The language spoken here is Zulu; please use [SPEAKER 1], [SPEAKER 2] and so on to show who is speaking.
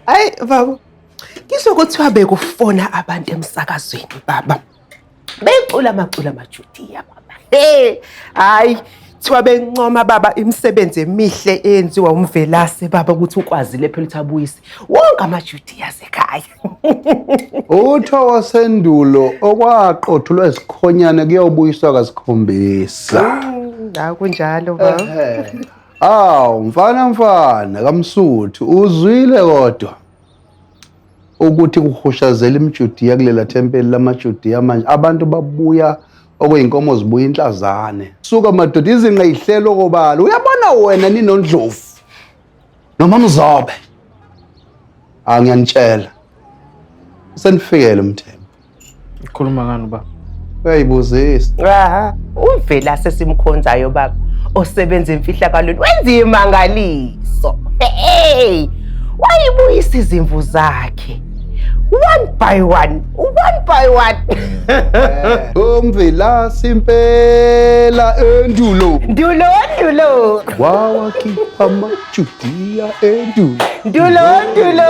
[SPEAKER 1] Hayi baba. Ngizwe kuthiwa bekufona abantu emsakazweni baba. Becula amacula amajudiya baba. Hey, hayi kuthiwa bencoma baba imisebenzi emihle eyenziwa umvelase baba ukuthi ukwazile phela ukuthi abuyise wonke amajudiya asekhaya.
[SPEAKER 2] Utho wasendulo okwaqothulwa isikhonyane kuyobuyiswa kasikhombisa. Hawu
[SPEAKER 1] kunjalo baba. Ehhe. Aw mfana
[SPEAKER 2] mfana kamsuthi uzwile kodwa ukuthi kuhushazela imjudiya kulela thempeli lamajudiya manje abantu babuya okuyinkomo zibuya inhlazane suka madoda izinqa ihlelo kobala uyabona wena ninondlovu noma mzobe angiyanitshela senifikele umthembu Ukhuluma
[SPEAKER 3] ngani baba? Uyayibuzisa. Aha,
[SPEAKER 2] uvela sesimkhonzayo
[SPEAKER 1] baba osebenza emfihlakalweni wenza imangaliso. Hey! Wayibuyisa izimvu zakhe. One by one, one by one.
[SPEAKER 2] Umvela simpela endulo. Ndulo, ndulo,
[SPEAKER 1] Wawakhipha
[SPEAKER 2] amajudiya endulo. ndulo, ndulo.